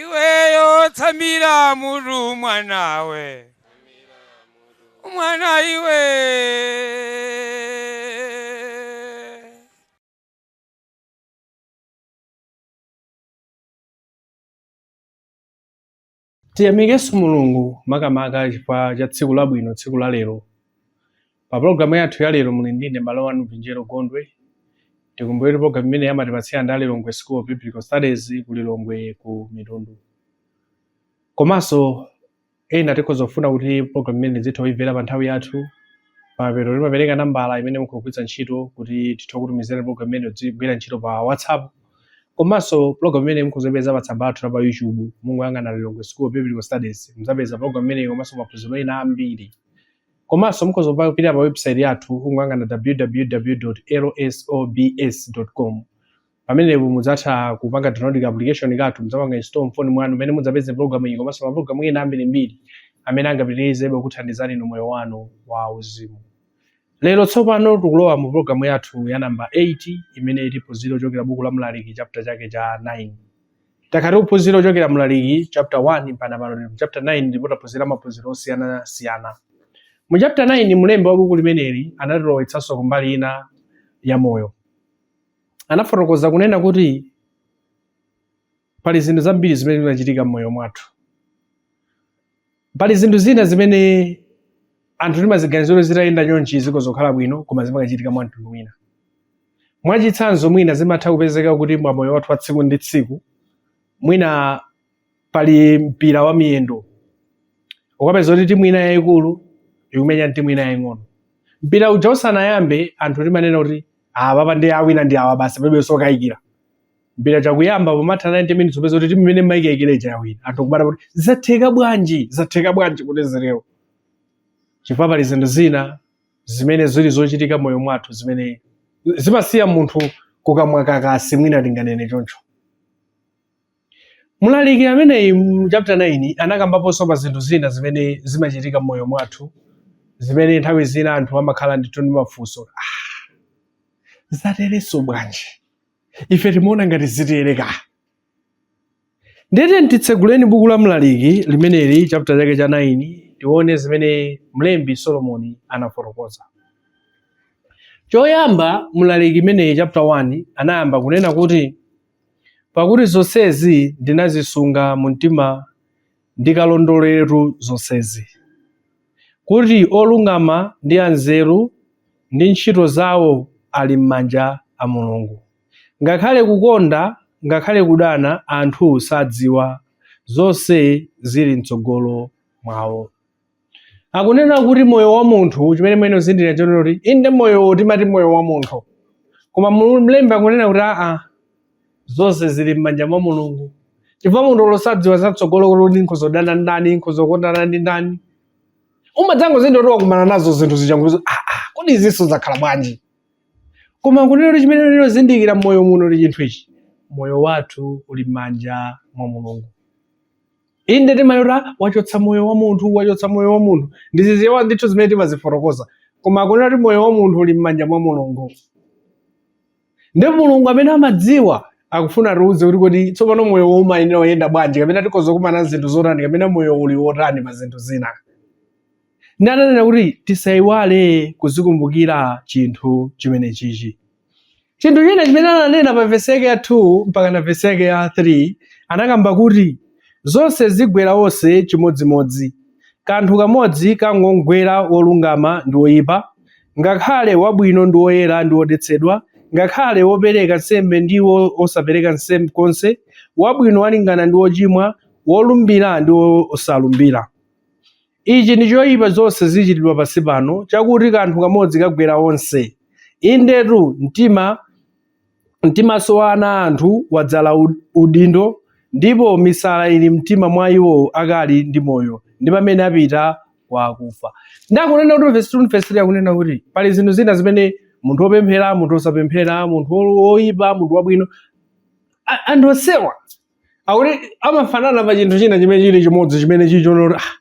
iweyo tsamira mutu mwanawe mwana iwe Tiyamikenso Mulungu makamaka chifukwa cha tsiku labwino, tsiku la lero. Pa pologalamu yathu ya lero muli ndine mbale wanu Pinjero Gondwe. Tikumbukire pologalamu imeneyi amatipatsira ndi a Lilongwe School of Biblical Studies ku Lilongwe ku Mitundu. Komanso ena tikhoza kufuna kuti pologalamu imene tizitha kuimvera pa nthawi yathu pamapeto timapereka nambala imene mukhoza kugwiritsa ntchito kuti tithe kutumizirani pologalamu imene tizigwira ntchito pa WhatsApp komanso program imene mukhoza kuipeza pa tsamba lathu la pa YouTube mungoyang'ana Lilongwe School of Biblical Studies muzapeza program imeneyi komanso maphunziro ena ambiri komanso mukhoza kupita pa website yathu kungoyang'ana www.lsobs.com pamenepo mudzatha kupanga download ka application kathu mudzapanga install mfoni mwanu mmene mudzapeze program iyi komanso maprogramu ena ambirimbiri amene angapitirizebe kuthandizani inu moyo wanu wa uzimu Lero tsopano tikulowa mu pologalamu yathu ya namba 8 imene tiphunzire kuchokera buku la Mlaliki chapter chake cha 9. Takhala tikuphunzira kuchokera Mlaliki chapter 1 mpaka pano tili mu chapter 9 ndipo taphunzira maphunziro osiyanasiyana. Mu chapter 9 mlembi wa buku limeneli anatilowetsanso ku mbali ina ya moyo. Anafotokoza kunena kuti Pali zinthu zambiri zimene zimachitika m'moyo mwathu. Pali zinthu zina zimene anthu timaziganizira kuti zitayenda chonchi zikhoza kukhala bwino koma zimakachitika mwa mtundu wina. Mwachitsanzo mwina zimatha kupezeka kuti mwa moyo wathu wa tsiku ndi tsiku mwina pali mpira wa miyendo ukapeza kuti timu ina yayikulu ikumenya ndi timu ina yaying'ono. Mpira uja usanayambe anthu timanena kuti apapa ndiye awina ndi awa basi palibe zokayikira. mpira uja kuyamba pomatha 90 minutes upeza kuti timu imene timaikayikira ija yawina anthu kudabwa kuti zatheka bwanji zatheka bwanji kuti zitero chifukwa pali zinthu zina zimene zili zochitika mmoyo mwathu zimene zimasiya munthu kukamwa kakasi mwina tinganene choncho mlaliki ameneyi mu chapter 9 anakambaponso pa zinthu zina zimene zimachitika mmoyo mwathu zimene nthawi zina anthu amakhala ndithu ndi mafunso "Ah, zaterenso bwanji ife timaona ngati ziteremu ndiye tiyeni titseguleni buku la mlaliki limeneli chapter chake cha 9 tione zimene mlembi solomoni anafotokoza choyamba mlaliki ameneyi chapter 1 anayamba kunena kuti pakuti zonsezi ndinazisunga mu mtima Ndikalondoleretu zonsezi, kuti olungama ndi anzeru ndi ntchito zawo ali m'manja a Mulungu. Ngakhale kukonda ngakhale kudana anthu sadziwa zonse zili mtsogolo mwawo. akunena kuti moyo wa munthu chimene mwenizindikira chonena kuti inde moyowo timati moyo wa munthu koma Mulu- mlembi akunena kuti aa zonse zili m'manja mwa mulungu chifukwa munthu sadziwa zatsogolo kuti nkhoza kudana ndani nkhoza kukondana ndi ndani umadzangozindira kuti wakumana nazo zinthu zija ndiye aa kodi izinso zakhala bwanji koma kunena kuti chimene ndinozindikira m'moyo muno ndi chinthu ichi moyo wathu uli m'manja mwa mulungu inde timanena wachotsa moyo wa munthu wachotsa moyo wa munthu ndiziziwa ndithu zimene timazifotokoza koma akunena kuti moyo wa munthu uli m'manja mwa mulungu ndipo mulungu amene amadziwa akufuna atiuze kuti kodi tsopano moyowo umayenera kuyenda bwanji kapena tikhoza kukumana ndi zinthu zotani kapena moyo uli wotani pa zinthu zina ndi ananena kuti tisayiwale kuzikumbukira chinthu chimenechichi chinthu china chimene ananena pa vesi yake ya 2 mpaka na vesi yake ya 3 anakamba kuti zonse zigwera onse chimodzimodzi kanthu kamodzi kangomgwera wolungama ndi woyipa ngakhale wabwino ndi woyera ndi wodetsedwa ngakhale wopereka nsembe ndi wo- wosapereka nsembe konse wabwino alingana ndi wochimwa wolumbira ndi wosalumbira Ichi ndi choipa zonse zichitidwa pansi pano, chakuti kanthu kamodzi kagwera onse. Indetu, mtima, mtimanso wa ana a anthu wadzala udindo, ndipo misala ili m'mtima mwa iwo akali ndi moyo, ndi pamene apita kwa akufa. Ndiye akunena kuti verse 2 verse 3 akunena kuti pali zinthu zina zimene munthu wopemphera, munthu wosapemphera, munthu woipa, munthu wabwino, anthu onsewa akuti amafanana pa chinthu china chimene chili chimodzi chimene chili chonena kuti ah,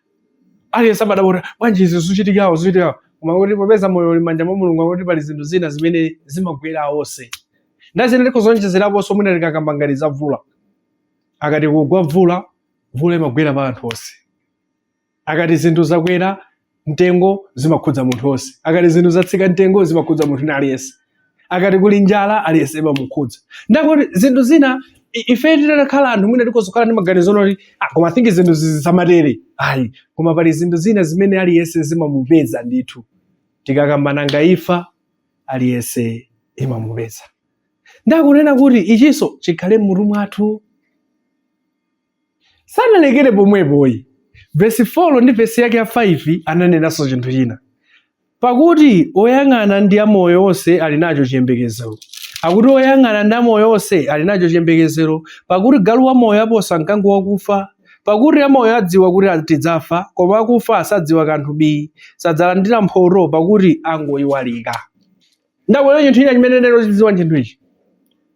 aliyense amadabwa kuti bwanji izi zochitikazo zochitikazo koma kuti popeza moyo uli m'manja mwa mulungu akuti pali zinthu zina zimene zimagwera onse ndiye ine ndikhoza kuonjezeraponso mwina tikakamba ngati za vula akati kugwa vula vula imagwera pa anthu onse akati zinthu zakwera mtengo zimakhudza munthu onse akati zinthu zatsika mtengo zimakhudza munthu ni aliyense akati kuli njala aliyense imamukhudza ndiye akuti zinthu zina i- ife titakhala anthu mwina tikhoza kukhala ndi maganizo onena kuti ah, koma I think zinthu izi zisamatere ayi koma pali zinthu zina zimene aliyense zimamupeza ndithu tikakamba nanga imfa aliyense imamupeza ndiye akunena kuti ichinso chikhale m'mutu mwathu Sanalekere pomwepoyi, vesi 4 ndi vesi yake ya 5 ananenanso chinthu china, Pakuti oyang'ana ndi amoyo onse ali nacho chiyembekezero. Akuti oyang'ana ndi amoyo onse ali nacho chiyembekezero, pakuti galu wamoyo aposa mkango wakufa. Pakuti amoyo adziwa kuti tidzafa, koma akufa sadziwa kanthu bi, sadzalandira mphoto, pakuti angoiwalika. Ndabwera chinthu china chimene tiyenera kuchidziwa chinthu ichi.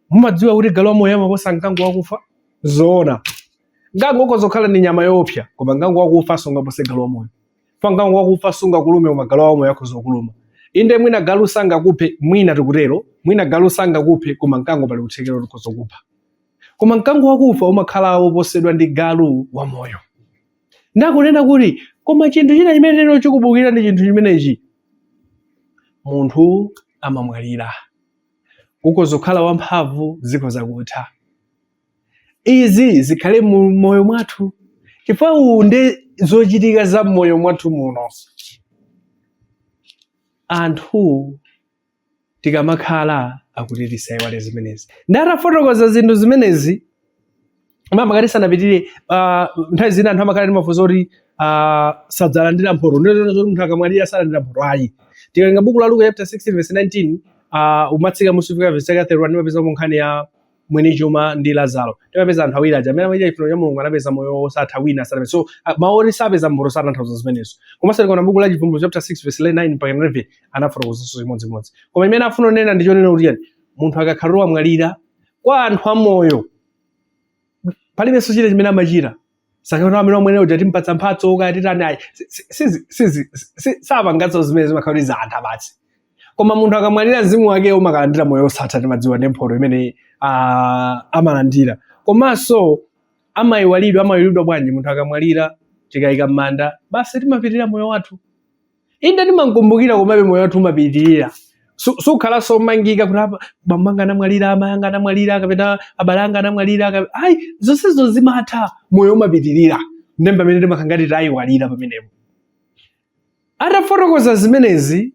Mumadziwa kuti galu wamoyo amaposa mkango wakufa? Zoona. Mkango ukhoza kukhala ndi nyama yoopsa, koma mkango wakufa sungapose galu wamoyo. Fa mkango wakufa sungakulume koma galu wamoyo akhoza kukuluma. Inde mwina galu sangakuphe, mwina tikutero, mwina galu sangakuphe koma mkango pali kuthekera kuti ukhoza kukupha. Koma mkango wakufa umakhala woposedwa ndi galu wamoyo. nde akunena kuti koma chinthu china chimene tiyenera kuchikumbukira ndi chinthu chimenechi munthu amamwalira ukhoza kukhala wamphamvu zikhoza kutha izi zikhale mu moyo mwathu chifukwa nde zochitika za mmoyo mwathu muno anthu tikamakhala akuti tisaiwale zimenezi nde atafotokoza zinthu zimenezi makamaka tisanapitire ah, nthawi zina anthu amakhala ndi mafunso oti ah, sadzalandira mphoto ndizoti munthu akamwalira salandira mphoto ayi tikawerenga buku la luka chapter 16 verse 19 ah, kumatsika mmusi kufika verse yake 31 timapezamo nkhani ya mwini chuma ndi Lazaro timapeza anthu awiri aja amene amachita chifuniro cha Mulungu anapeza moyo wosatha wina sanapeza so a- mawu oti sapeza mphoto satanthauza zimenezo komanso tikaona buku la chivumbulutso chapter 6 verse 9 mpaka 11 anafotokozanso chimodzimodzi koma chimene afuna kunena ndi chonena kuti chiyani munthu akakhala wamwalira kwa anthu amoyo palibenso china chimene amachita sikuti amene omwene uja timpatsa mphatso kaya titani ayi si- si- sizi- sizi- si- sapanganso zimene zimakhala kuti zatha basi koma munthu akamwalira mzimu wake umakalandira moyo osatha timadziwa ndi mphoto imene ah, amalandira komanso amayiwalidwa amayiwalidwa bwanji munthu akamwalira tikayika m'manda basi timapitirira moyo wathu inde timamkumbukira komabe moyo wathu umapitirira sukhalanso womangika kuti bambo anga anamwalira amayi anga anamwalira kapena abale anga anamwalira ayi zonsezo zimatha moyo umapitirira ndi pamene timakhala ngati tayiwalira pamenepo atafotokoza zimenezi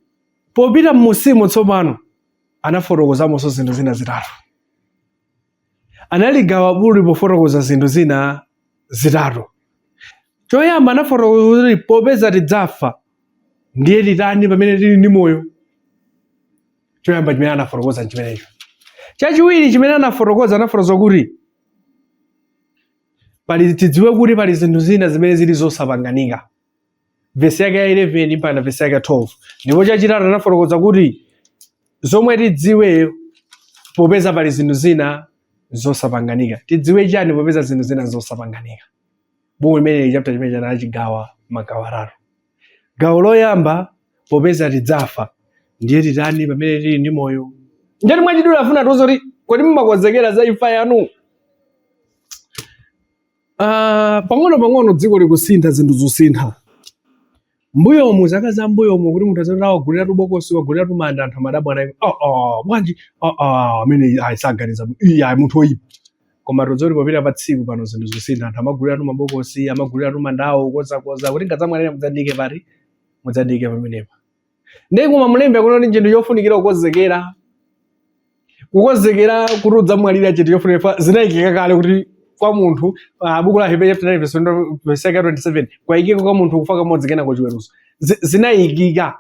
popita mmusimo tsopano anafotokozamonso zinthu zina zitatu analigawa bukuli pofotokoza zinthu zina zitatu. Choyamba anafotokoza kuti popeza tidzafa ndiye titani pamene tili ndi moyo. Choyamba chimene anafotokoza nchimenecho. Chachiwiri chimene anafotokoza anafotokoza kuti pali tidziwe kuti pali zinthu zina zimene zili zosapanganika. vesi yake ya 11 mpaka vesi yake ya 12 ndipo chachitatu anafotokoza kuti zomwe tidziwe popeza pali zinthu zina zosapanganika tidziwe chani popeza zinthu zina zosapanganika buku limeneli chapter chimenechi anachigawa magawo atatu gawo loyamba popeza tidzafa ndiye titani pamene tili ndi moyo njani mwachidula afuna atiuze kuti kodi mumakonzekera za imfa yanu Ah, pang'ono pang'ono dziko likusintha zinthu zikusintha mbuyomu zaka za mbuyomu kuti munthu azati awaguliratu bokosi waguliratu manda anthu amadabwa naye oh, oh, bwanji oh, oh, amene ayi saganiza bwino iye ayi munthu oyipa koma tidziti popita pa tsiku pano zinthu zikusintha anthu amaguliratu mabokosi amaguliratu mandawo konzakonza kuti nkadzamwalira mudzandiike pati mudzandiike pamenepa ndiye koma mlembi akuona kuti chinthu chofunikira kukonzekera kukonzekera kuti udzamwalira chinthu chofunikira fa- zinayikika kale kuti kwa munthu ah, buku la hebrew chapter 9 verse 20 verse 27 kwayikika kwa munthu kufa kamodzi kenako chiweruzo Zi- zinayikika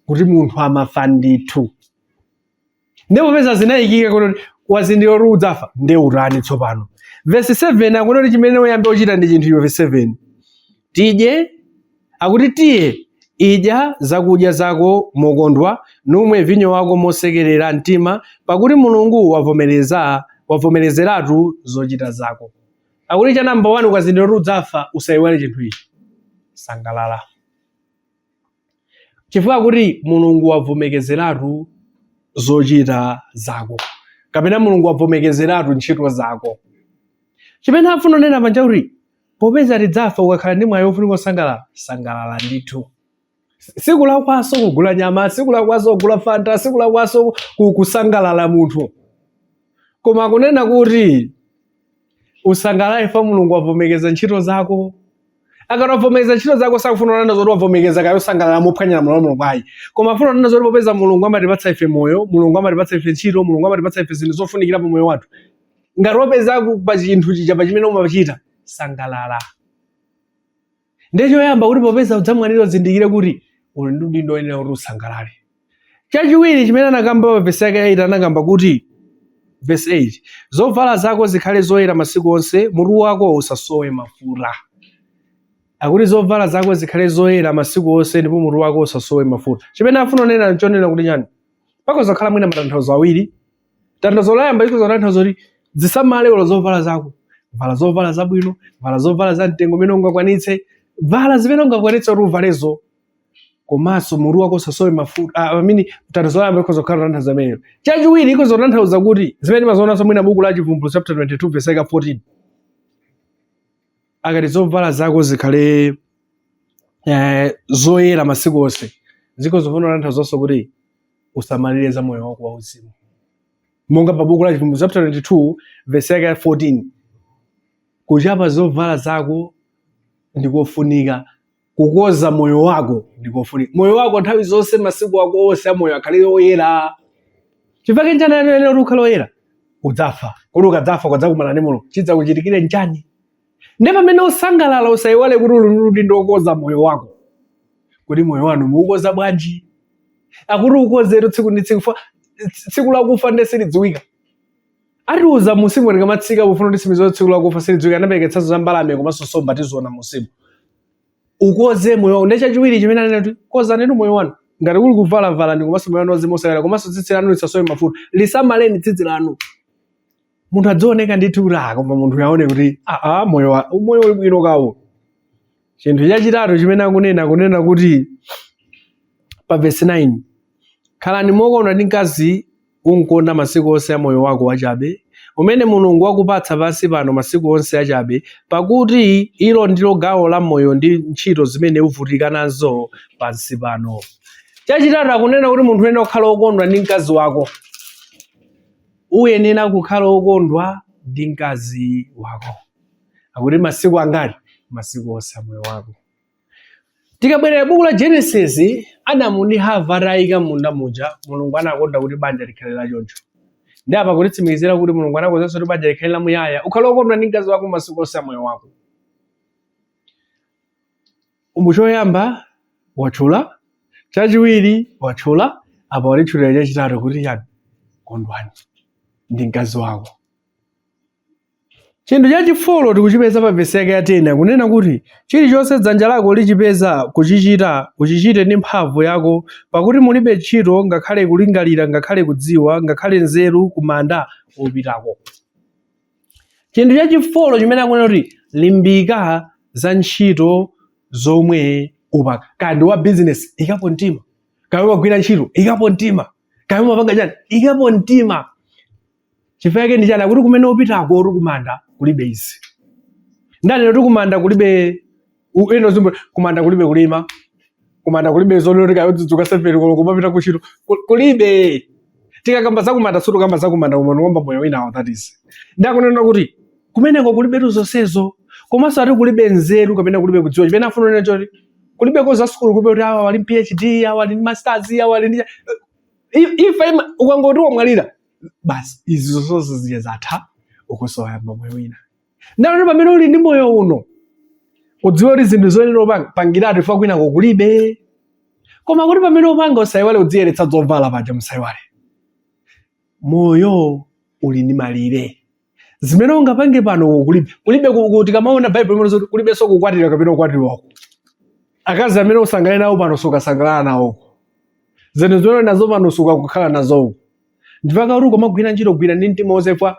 kuti munthu amafa ndithu ndiye popeza zinayikika kuti wazindikira kuti udzafa ndiye utani tsopano vesi 7 akunena kuti chimene uyambe kuchita ndi chinthu iwe vesi 7 tidye akuti tiye idya zakudya zako mokondwa numwe vinyo wako mosekerera mtima pakuti mulungu wavomereza wavomerezeratu zochita zako akuti cha namba 1 ukazindikira kuti udzafa usayiwale chinthu ichi sangalala chifukwa kuti mulungu wavomekezeratu zochita zako kapena mulungu wavomekezeratu ntchito zako chimene afuna unena paja nkuti popeza tidzafa ukakhala ndi mwayi wofunika kusangalala sangalala ndithu sikulakwanso kugula nyama sikulakwanso kugula fanta sikulakwanso kusangalala munthu koma kunena kuti usangalale fa mulungu wavomekeza ntchito zako akati wavomekeza ntchito zako sakufuna kunena zokuti wavomekeza kayo sangalala mophwanya malamulo a mulungu ayi koma afuna kunena zokuti popeza mulungu amatipatsa ife moyo mulungu amatipatsa ife ntchito mulungu amatipatsa ife zinthu zofunikira pa moyo wathu ngati wapeza ku- pa chinthu chija pa chimene umachita sangalala ndiye choyamba kuti popeza udzamwalira uzindikire kuti uli ndi udindo woyenera kuti usangalale chachiwiri chimene anakamba pa vesi yake ya 8 anakamba kuti vesi 8 zovala zako zikhale zoyera masiku onse mutu wako usasowe mafuta akuti zovala zako zikhale zoyera masiku onse ndipo mutu wako usasowe mafuta chimene afuna unena nchonena kuti nyani pakhoza khala mwina matanthauzo awiri tanthauzo loyamba likhoza kutanthauza kuti zisamale olo zovala zako vala zovala zabwino vala zovala za mtengo umene ungakwanitse vala zimene ungakwanitse kuti uvalezo komanso mutu wako usasowe mafuta ah, I mean tanthauzo loyamba likhoza kukhala tanthauzo limenelo chachiwiri likhoza kutanthauza kuti zimene timazionanso mwina buku la chivumbulutso chapter 22 verse 14 akamati zovala zako zikhale eh, zoyera masiku onse zikhoza kutanthauza kuti usamalire za moyo wako wauzimu monga pa buku la chivumbulutso chapter 22 vesi yake ya 14 kuchapa zovala zako ndikofunika kukonza moyo wako ndikofunika moyo wako nthawi zonse masiku ako onse amoyo akhale oyera chifukwa chake njani anena kuti ukhale oyera udzafa kodi ukadzafa ukadzakumana ndi mulungu chidzakuchitikire njani Nde pamene ukusangalala usaiwale kuti uli ndi udindo wokonza moyo wako. Kodi moyo wanu mukuukonza bwanji? Akuti ukonzetu tsiku ndi tsiku fa tsiku lakufa nde silidziwika. Atiuza munsimu tikamatsika pofuna kutsimikiza tsiku lakufa silidziwika anapereketsanso za mbalame komanso nsomba tiziona munsimu. Ukonze moyo wako. Nde chachiwiri chimene anena kuti konzanitu moyo wanu. Ngati kuli kuvala valani komanso moyo wanu wauzimu usaiwale komanso tsitsi lanu lisasowe mafuta. Lisamaleni tsitsi lanu. munthu adzioneka ndithu kuti ah koma munthu yaone kuti ah, ah moyo wa- moyo uli bwino kawo chinthu chachitatu chimene akunena akunena kuti pa vesi 9 khalani mokondwa ndi mkazi umkonda masiku onse a moyo wako wachabe umene mulungu wakupatsa pansi pano masiku onse achabe pakuti ilo ndilo gawo la moyo ndi ntchito zimene uvutika nazo pansi pano chachitatu akunena kuti munthu uyenera kukhala wokondwa ndi mkazi wako uyenera kukhala okondwa ndi mkazi wako akuti masiku angati masiku onse amoyo wako tikabwerera buku la genesis adamu ndi hava atayika munda muja mulungu anakonda kuti banja likhale la choncho nde apa kutitsimikizira kuti mulungu anakonzanso kuti banja likhale la muyaya ukhale okondwa ndi mkazi wako masiku onse amoyo wako Umu choyamba watchula, chachiwiri watchula, apa walitchulira chachitatu kuti chani? Kondwa ndi mkazi wako. Chinthu chachifolo tikuchipeza pa vesi yake ya 10 akunena kuti chilichonse dzanja lako lichipeza kuchichita uchichite ndi mphamvu yako, pakuti mulibe ntchito ngakhale kulingalira ngakhale kudziwa ngakhale nzeru kumanda wopitako. chinthu chachifolo chimene akunena kuti limbika za ntchito zomwe upanga kaya ndiwe wa bizinesi ikapo mtima kaya umagwira ntchito ikapo mtima kaya umapanga chani ikapo mtima chifukwa chake ndi chani akuti kumene upitako kuti kumanda kulibe izi ndanena kuti kumanda kulibe U- ina nyimbo kumanda kulibe kulima kumanda kulibe zonoti kaya udzidzuka seveni koloko kumapita kuntchito Ku- kulibe tikakamba zakumanda sitikamba zakumanda koma tikukamba moyo winawo that is ndakunena kuti kumeneko kulibetu zonsezo komanso ati kulibe nzeru kapena kulibe kudziwa chimene afuna kunena choti kulibeko za sukulu kulibe kuti awa wali ndi phd awa wali ndi masters awa wali ndi I- ifa ima- ukangoti wamwalira basi izi zonse zija zatha ukuso yamba moyo wina ndiye pamene uli ndi moyo uno udziwe kuti zinthu zoyenera upanga pangiratu chifukwa kwinako kulibe koma kuti pamene upanga usayiwale udziyeretsa zovala paja musayiwale moyo uli ndi malire zimene ungapange pano kulibe kulibe ku- ku- tikamaona baibulo imanena zoti kulibenso kukwatira kapena kukwatiwako akazi amene usangalale nawo pano sukasangalala nawoko zinthu zimene uli nazo pano sukakukhala nazoko ndipaka kuti ukamagwira ntchito gwira ndi mtima wonse ifa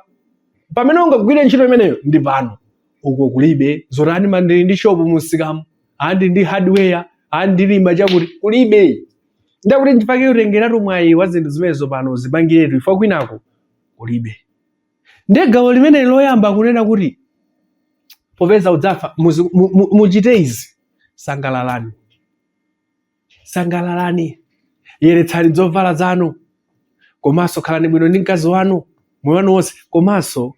pamene ungagwire ntchito imeneyo ndi pano uko kulibe zoti a ndimandili ndi shopu mumsikamu a ndili ndi hardware a ndilima chakuti kulibe ndakuti ndipake utengeratu mwayi wa zinthu zimenezo pano uzipangiretu ifa kwinako kulibe ndiye gawo limene loyamba kunena kuti popeza udzafa muzi- mu- mu- muchite izi sangalalani sangalalani yeretsani zovala zanu komanso khalani bwino ndi mkazi wanu moyo wanu wonse komanso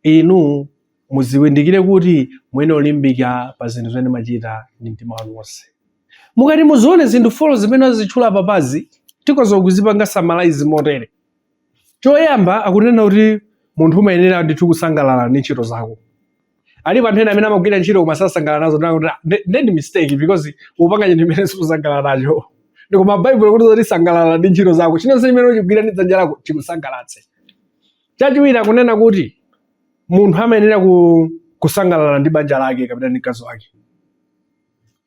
inu muzindikire kuti muyenera olimbika pa zinthu zimene mumachita ndi mtima wanu wonse mukati muzione zinthu folo zimene azitchula apazi tikoza kuzipanga samalayizi motere Choyamba akunena kuti munthu umayenera ndithu kusangalala ndi ntchito zako. Alipo anthu ena amene amagwira ntchito koma sasangalala nazo ndikuti "Ah, nde- nde ndi mistake because upanga chinthu chimene sikusangalala nacho. Ndikoma Baibulo ikuti zoti sangalala ndi ntchito zako. Chilichonse chimene uchigwira ndi dzanja lako chikusangalatse. Chachiwiri akunena kuti munthu amayenera ku, kusangalala ndi banja lake kapena ndi mkazi wake.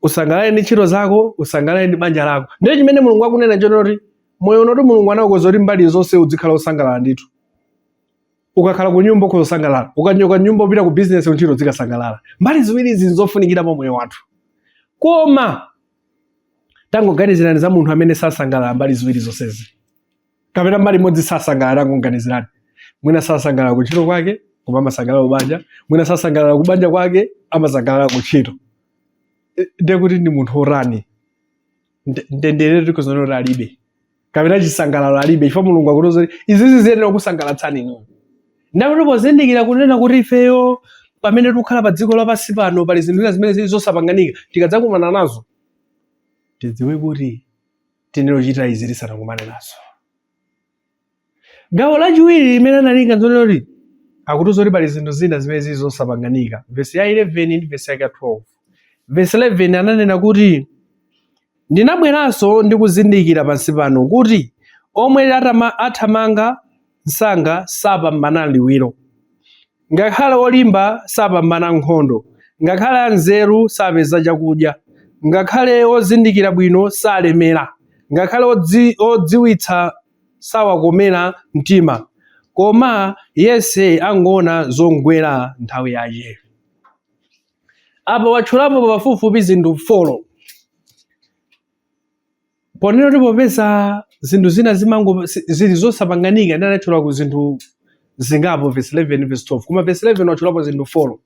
usangalale ndi ntchito zako usangalale ndi banja lako ndiye chimene mulungu akunena chonena kuti moyo unotu mulungu anaukonza kuti mbali zonse udzikhala osangalala ndithu ukakhala ku nyumba ukhoza kusangalala ukachoka kunyumba upita ku bizinesi kuntchito uzikasangalala mbali ziwiri izi nzofunikira pa moyo wathu koma tangoganizirani za munthu amene sasangalala mbali ziwiri zonsezi kapena mbali imodzi sasangalala tangoganizirani mwina sasangalala kuntchito kwake koma amasangalala kubanja mwina sasangalala kubanja kwake amasangalala kuntchito E, ndiye kuti ndi munthu otani Nde- ndendere tikoza kunena kuti alibe kapena chisangalalo alibe chifukwa mulungu akutiuza kuti izizi ziyenera kukusangalatsani inu ndakuti pozindikira kunena kuti ifeyo pamene tikukhala pa dziko lapansi pano pali zinthu zina zimene zili zosapanganika tikadzakumana nazo tidziwe kuti tiyenera kuchita izi tisanakumane nazo gawo lachiwiri limene analinga zonena kuti akutiuza kuti pali zinthu zina zimene zili zosapanganika vesi ya 11 ndi vesi yake ya 12 vesi 11 ananena kuti ndinabweranso ndi kuzindikira pansi pano kuti omwe athamanga msanga sapambana m'liwiro. Ngakhale olimba sapambana nkhondo, ngakhale anzeru sapeza chakudya, ngakhale ozindikira bwino salemera, ngakhale odziwitsa sawakomera mtima, koma yense angoona zongwera nthawi yache. Apa watchulapo pafupifupi zinthu folo ponena kuti popeza zinthu zina zimango zili zosapanganika ndiye anatchulako zinthu zingapo verse 11 verse 12 koma verse 11 watchulapo zinthu 4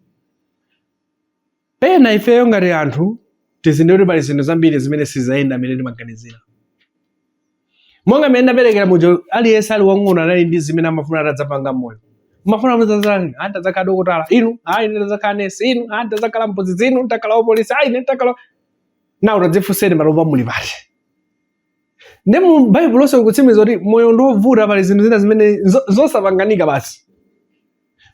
pena ifeyo ngati anthu tizindikire kuti pali zinthu zambiri zimene siziyenda mmene timaganizira monga mmene ndaperekera muja aliyense ali wang'ono anali ndi zimene amafuna atadzapanga moyo mufuna muzatani a ntazakhala dokotala inu ayi ine ndazakhala nesi inu a ntazakhala mphunzitsi inu ntakhala wapolisi ayi ine ntakhala nawo tadzifunseni panopa muli pati nde mu baibulo lonse likutsimikiza kuti moyo ndi wovuta pali zinthu zina zimene zosapanganika basi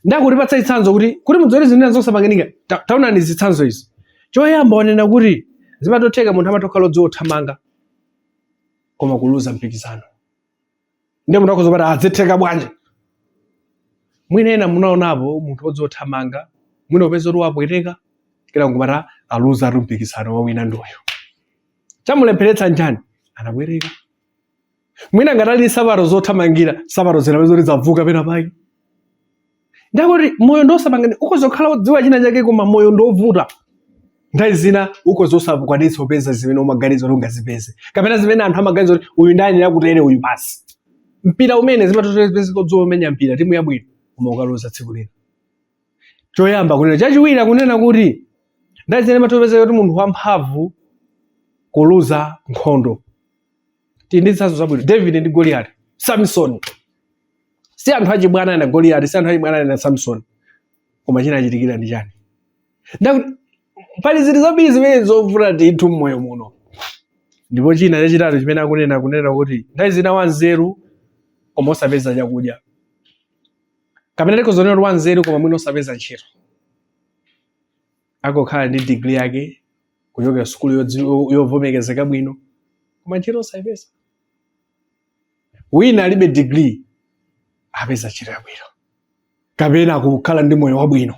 nde akutipatsa chitsanzo kuti kuti mudziwe zinthu zina zosapanganika taonani zitsanzo izi choyamba wanena kuti zimatotheka munthu amatha kukhala odziwa kuthamanga koma kuluza mpikisano ndiye munthu akhoza kumati a zitheka bwanji mwina ena munaonapo munthu odziwa kuthamanga mwina upeza kuti wapweteka kaya n'kumati aluza ati mpikisano wawina ndi uyu chamulepheretsa n'chani anabwereka mwina ngati anali nsapato zothamangira nsapato zinapezeka kuti zavuka pena pake nde akuti moyo ndiosapangani ukhoza kukhala wodziwa china chake koma moyo ndiovuta nthawi zina ukhoza osakwanitsa kupeza zimene umaganiza kuti ungazipeze kapena zimene anthu amaganiza kuti uyu ndayenera kutere uyu basi mpira umene zimatha otheka odziwa kumenya mpira timu yabwino koma kukaluza tsiku lina choyamba kunena chachiwiri akunena kuti nthawi zina zimatopezeka kuti munthu wamphamvu kuluza nkhondo tili ndi zitsanzo zabwino david ndi goliyati samsoni si anthu achibwana a goliyati si anthu achibwana a samsoni koma chinawachitikira ndi chani nde akuti pali zinthu zambiri zimene zovuta ndithu mmoyo muno ndipo china chachitatu chimene akunena akunena kuti nthawi zina wanzeru koma osapeza chakudya kapena tikhoza onena kuti wanzeru koma mwina osapeza ntchito akukhala ndi degree yake kuchokera sukulu yodziwi- yovomerezeka bwino koma ntchito osayipeza wina alibe degree apeza ntchito yabwino kapena kukhala ndi moyo wabwino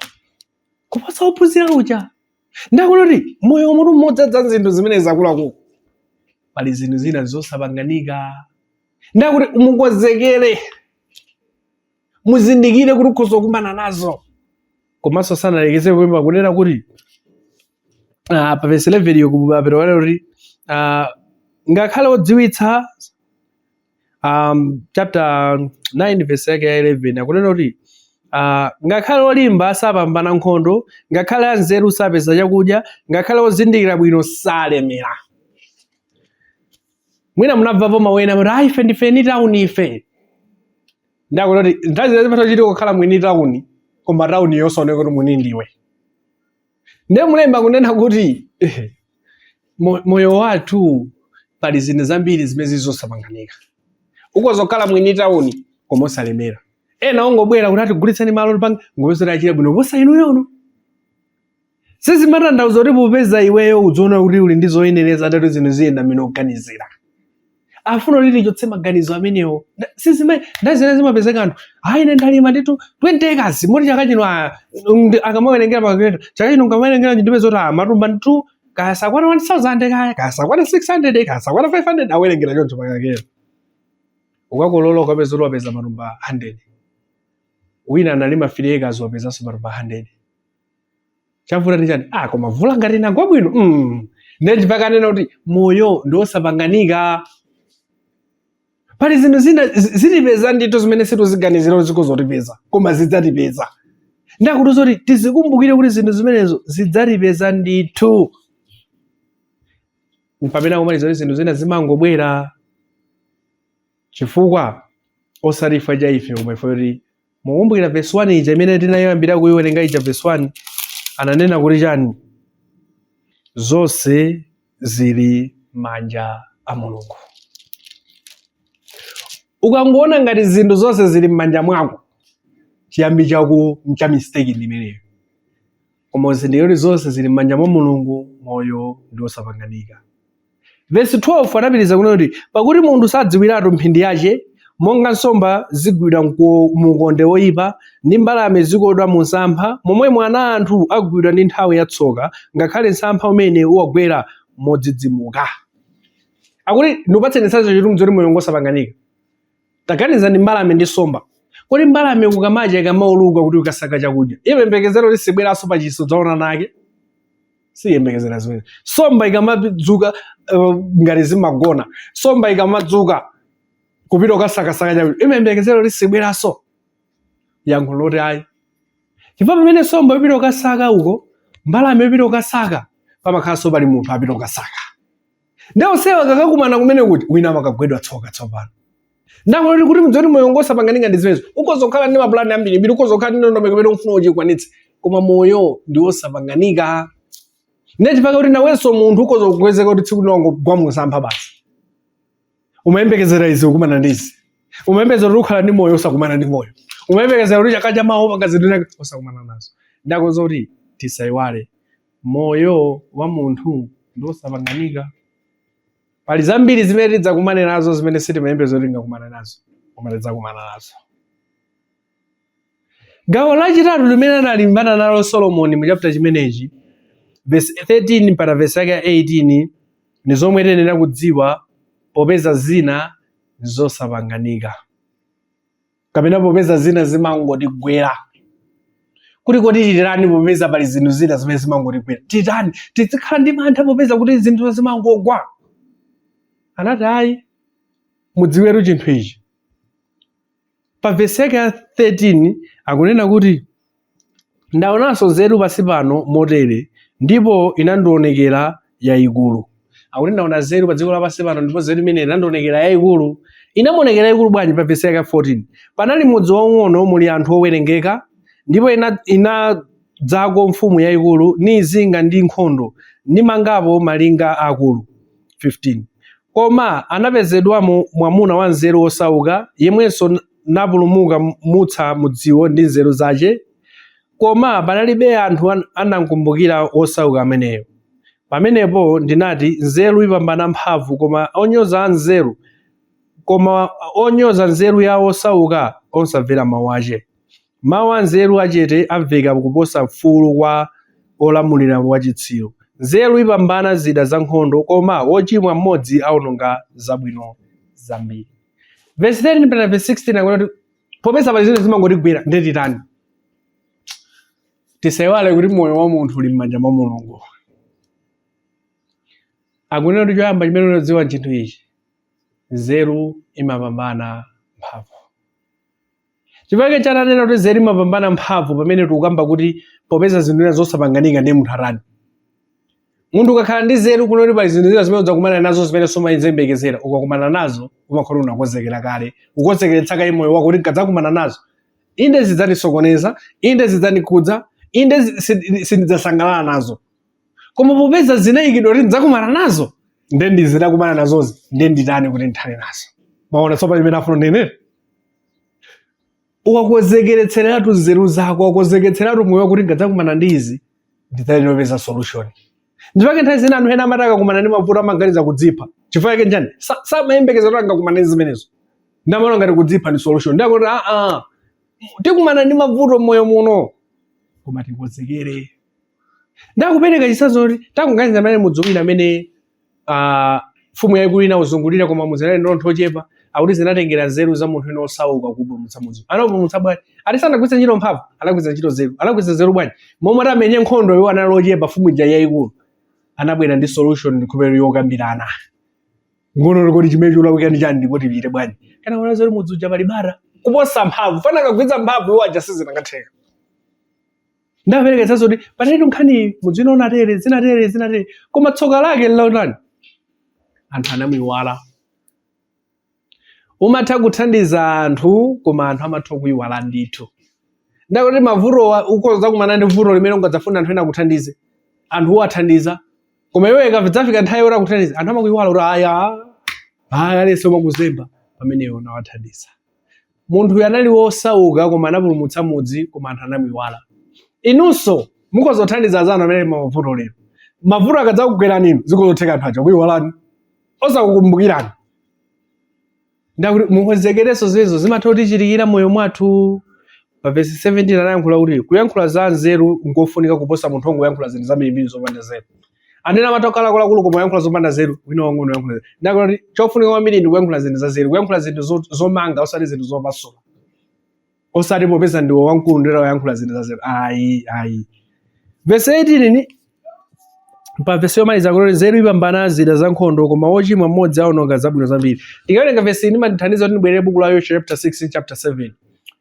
kuposa ophunzira uja ndiye akuti moyo wa munthu mmodzi mwa zinthu zimene zakuluakulu pali zinthu zina zosapanganika ndiye akuti mukonzekere muzindikire kuti mukhoza kukumana nazo komanso sanalekeze pompo akunena kuti ah, pa vesi 11 yo kumapita kunena kuti ah, ngakhale odziwitsa um, chapter 9 verse yake ya 11 akunena kuti uh, ngakhale olimba sapambana nkhondo ngakhale anzeru sapeza chakudya ngakhale ozindikira bwino salemera mwina munamvapo mawu onena kuti ayi ife ndife eni tauni ife ndiye akuti kuti nthawi zina zimatha kuchitika kukhala mwini tauni koma tauni yosaoneka kuti mwini ndiwe ndiye mlembi akunena kuti mo- moyo wathu pali zinthu zambiri zimene zili zosapanganika ukoza kukhala mwini tauni koma osalemera ena ongobwera kuti ati tigulitseni malo tipange golosale achira bwino kuposa inuyo sizimatanthauza kuti popeza iweyo ukudziona kuti uli ndi zoyenereza ati zinthu ziyenda mmene ukuganizira afuna kuti tichotse maganizo amenewo Nda- sizime nthawi zina zimapezeka anthu ayi ine ndalima nditu 20 acres moti chaka chino ah, ndi- akamawerengera pakakhota chaka chino ndikamawerengera ndime zoti ah, matumba nditu kaya sakwana 1000 kaya kaya sakwana 600 kaya sakwana 500 awerengera choncho pakakhota ukakolola ukapeza kuti wapeza matumba 100 wina analima 3 acres wapezanso matumba 100 chavuta ndi chani ah koma vula nkuti inagwa bwino mm. nde nchifukwa akunena kuti moyo ndiosapanganika pali zinthu zina zi- zitipeza ndithu zimene sitikuziganizira kuti zikhoza kutipeza koma zidzatipeza nde akuti zoti tizikumbukire kuti zinthu zimenezo zidzatipeza ndithu mpamene akumaliza kuti zinthu zina zimangobwera chifukwa osati chifukwa cha ife koma chifukwa choti Mukumbukira verse 1 ija imene tinayambira kuiwerenga ija verse 1 ananena kuti chani? Zonse zili manja a Mulungu. Ukangoona ngati zinthu zonse zili m'manja mwako, chiyambi chako cha mistake ndi imeneyo. Koma uzindikire kuti zonse zili m'manja mwa Mulungu, moyo ndi wosapanganika. Vesi 12 anapitiriza kunena kuti, Pakuti munthu sadziwiratu mphindi yace, monga nsomba zigwidwa mu ukonde woipa, ndi mbalame zikodwa mu msampha, momwemo ana a anthu agwidwa ndi nthawi ya tsoka, ngakhale msampha umene uwagwera modzidzimuka. Akuti, Ndikupatseni chitsanzo choti mudziwe kuti moyo ngwosapanganika. Taganizani mbalame ndi nsomba. Kodi mbalame kukamacha ikamauluka kupita kukasaka chakudya, imayembekezera kuti sibweranso pa chisa kudzaona ana ake? Siyembekezera zimenezi. Nsomba ikamadzuka eh, ngati zimagona, nsomba ikamadzuka kupita kukasakasaka chakudya, imayembekezera kuti sibweranso? Yankho loti ayi. Chifukwa pamene nsomba ipita kukasaka uko, mbalame ipita kukasaka, pamakhalanso pali munthu apita kukasaka. ndiye onsewa akakakumana kumene kuti wina amakagwedwa tsoka tsopano ndikuti kuti mudziwe zoti moyo ngosapanganika ndi zimenezo ukhoza kukhala ndi mapulani ambiri mbiri ukhoza kukhala ndi ndondomeko imene ufuna uyikwanitse koma moyo ndi wosapanganika nde chifukwa kuti nawenso munthu ukhoza kupezeka kuti tsiku lina wangogwa musampha basi umayembekezera izi ukumana ndi izi umayembekezera kuti ukhala ndi moyo osakumana ndi moyo umayembekezera kuti chaka chamawa upanga zinthu zina osakumana nazo ndikuuzani kuti tisaiwale Moyo wa munthu ndi wosapanganika. Pali zambiri zimene tidzakumane nazo zimene sitimayembekeza kuti tingakumane nazo, koma tidzakumana nazo. Gawo lachitatu limene analimbana nalo Solomoni mu chapter chimenechi, verse 13 mpaka verse yake ya 18, ndi zomwe tiyenera kudziwa popeza zina ndi zosapanganika. kapena popeza zina zimangotigwera kuti kodi titani popeza pali zinthu zina zimene zimangotigwera titani tizikhala ndi mantha popeza kuti zinthu zimangogwa anati ayi mudziwetu chinthu ichi pa vesi yake ya 13 akunena kuti Ndaonanso nzeru pansi pano motere, ndipo inandionekera yaikulu. Akuti ndaona nzeru pa dziko lapansi pano, ndipo nzeru imeneyi inandionekera yaikulu. Inamuonekera yaikulu bwanji? Pa vesi yake ya 14. Panali mudzi waung'ono muli anthu owerengeka, ndipo ina, inadzako mfumu yaikulu, niizinga ndi nkhondo, nimangapo malinga aakulu. 15 koma anapezedwamo mwamuna wanzeru wosauka, yemwenso napulumuka- mutsa mudziwo ndi nzeru zace, koma panalibe anthu an- anamkumbukira wosauka ameneyo. Pamenepo ndinati, Nzeru ipambana mphamvu, koma onyoza nzeru, koma onyoza nzeru ya wosauka osamvera mau ace. Mawu anzeru achete amveka kuposa kufuula kwa wolamulira wachitsiru. Nzeru ipambana zida zankhondo, koma wochimwa mmodzi awononga zabwino zambiri. Vesi 13 mpaka vesi 16 akunena kuti popeza pali zinthu zimene zimangotigwera ndiye titani? Tisaiwale kuti moyo wa munthu uli m'manja mwa Mulungu. Akunena kuti choyamba chimene uyenera kudziwa chinthu ichi, nzeru imapambana mphamvu. chifukwa chake ananena kuti nzeru imapambana mphamvu pamene tikukamba kuti popeza zinthu zina zosapanganika ndi munthu atani munthu ukakhala ndi nzeru kunoti pali zinthu zina zimene udzakumana nazo zimene sumayembekezera ukakumana nazo umakhala unakonzekera kale ukonzekeretsa kale moyo wako kuti nkadzakumana nazo inde zidzandisokoneza inde zidzandikhudza inde zi- si- sindidzasangalala nazo koma popeza zinayikidwa kuti ndidzakumana nazo nde ndidzakumana nazozi nde nditani kuti ndithane nazo mwaona tsopano zimene ndafuna ndinene uwakonzekeretseretu nzeru zako uwakonzekeretseretu moyo wako kuti nkadzakumana ndi izi ndidzalinopeza solution nchifukwa chake nthawi zina anthu ena amati akakumana ndi mavuto amaganiza kudzipha chifukwa yake nchani samayembekeza kuti angakumana ndi zimenezo nde amaona ngati kudzipha ndi solution nde akuti aa ah, ah, tikumana ndi mavuto mmoyo muno koma tikonzekere nde akupereka chitsanzo kuti takuganiza amene mudzi wina amene ah, mfumu yaikulu inauzungulira koma mudziwu unali ndi anthu ochepa akuti zinatengera nzeru za munthu wina osauka kupulumutsa mudzi anapulumutsa bwanji ati sanagwiritse ntchito mphamvu anagwiritsa ntchito nzeru anagwiritsa nzeru bwanji momwe akanati amenye nkhondo iwo anali ochepa mfumu ija yaikulu anabwera ndi solution ndikhulupirira yokambirana nkuona kuti chimene cholakwika ndi chani ndipo tichite bwanji chifukwa anaona zoti mudzi uja pali bara kuposa mphamvu chifukwa akanagwiritsa mphamvu iwo aja sizikanatheka nde apereka chitsanzo kuti panalitu nkhaniyi mudzi wina unatere zinatere zinatere koma tsoka lake nlotani anthu anamuiwala umatha kuthandiza anthu koma anthu amatha kuiwala ndithu nde akuti mavutowa ukhoza kumana ndi vuto limene ungadzafune anthu ena akuthandize anthu uwathandiza koma iwe ikadzafika nthawi yoti akuthandize anthu amakuiwala kuti aya aya aliyense kumakuzemba pamene iwe unawathandiza munthuyu anali wosauka koma anapulumutsa mudzi koma anthu anamuiwala inunso mukhoza kuthandiza anzanu amene ali mmavuto lero mavuto akadzakugwerani inu zikhozotheka anthu aja kukuiwalani osakukumbukirani nde akuti mukonzekerenso zimenezo zimatha kutichitikira mmoyo mwathu Pa vesi 17 anayankhula kuti kuyankhula za anzeru nkofunika kuposa munthu ongoyankhula zinthu zambirimbiri zopanda nzeru. Anthu ena amatha kukhala akuluakulu koma oyankhula zopanda nzeru, wina wamng'ono oyankhula nzeru. Nde akuona kuti chofunika kwambiri ndi kuyankhula zinthu za nzeru, kuyankhula zinthu zo- zomanga osati zinthu zopasula. Osati popeza ndiwe wamkulu nde wayankhula zinthu za nzeru. Ayi, ayi. Vesi 18 ndi pa vesi yomaliza kuti nzeru ipambana zida za nkhondo koma wochimwa mmodzi aononga zabwino zambiri ndikawerenga vesi imandithandiza kuti ndibwerere buku la yoshua chapter 6 chapter 7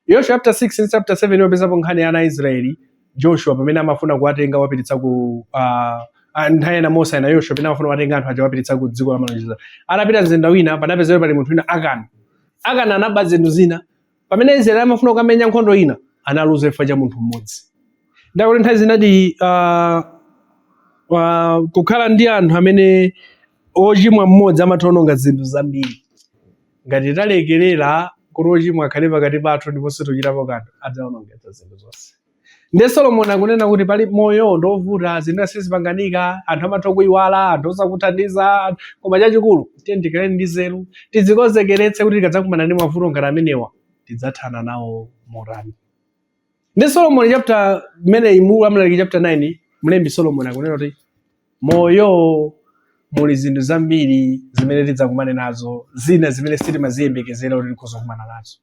yoshua chapter 6 chapter 7 imapezapo nkhani ya ana a israeli joshua pamene amafuna kuwatenga kuwapititsa ku ah, ah, nthawi ina mose ndi yoshua pamene amafuna kuwatenga anthu aja kuwapititsa ku dziko la malonjezo anapita mzinda wina panapezeka pali munthu wina akani akani anaba zinthu zina pamene israeli amafuna kukamenya nkhondo ina analuza chifukwa cha munthu mmodzi ndakuti nthawi zinadi ah, ah, kukhala ndi anthu amene ochimwa mmodzi amatha ononga zinthu zambiri ngati talekerera kuti ochimwa akhale pakati pathu ndiponso osachitapo kanthu adzaonongetsa zinthu zonse ndi solomoni akunena kuti pali moyo ndi ovuta zinthu sizipanganika anthu amatha kuyiwala anthu osakuthandiza koma chachikulu tiyeni tikhale ndi nzeru tidzikonzekeretse kuti tikadzakumana ndi mavuto ngati amenewa tidzathana nawo motani ndi solomoni chapter imeneyi mu amlaliki chapter 9 mlembi solomoni akunena kuti m'moyo muli zinthu zambiri zimene tidzakumane nazo zina zimene sitimaziyembekezera kuti tikhoza kukumana nazo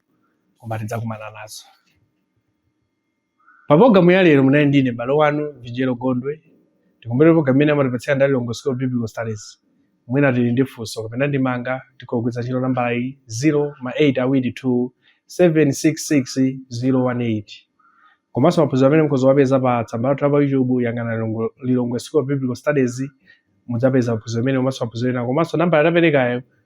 koma tidzakumana nazo Pa pulogalamu ya lero munali ndi ine m'bale wanu Vigelo Gondwe. Tikumbukire pulogalamu imeneyi amatipatsira ndi a Lilongwe School of Biblical Studies. Mwina tili ndi funso kapena ndemanga tikhoza kugwiritsa ntchito nambala iyi 0 ma 8 awiri 2 766 018. Komanso maphunziro amenewa mukhoza kuwapeza pa tsamba lathu la pa YouTube yang'ana Lilongwe, Lilongwe School of Biblical Studies mudzapeza maphunziro amenewa komanso maphunziro ena komanso nambala taperekayo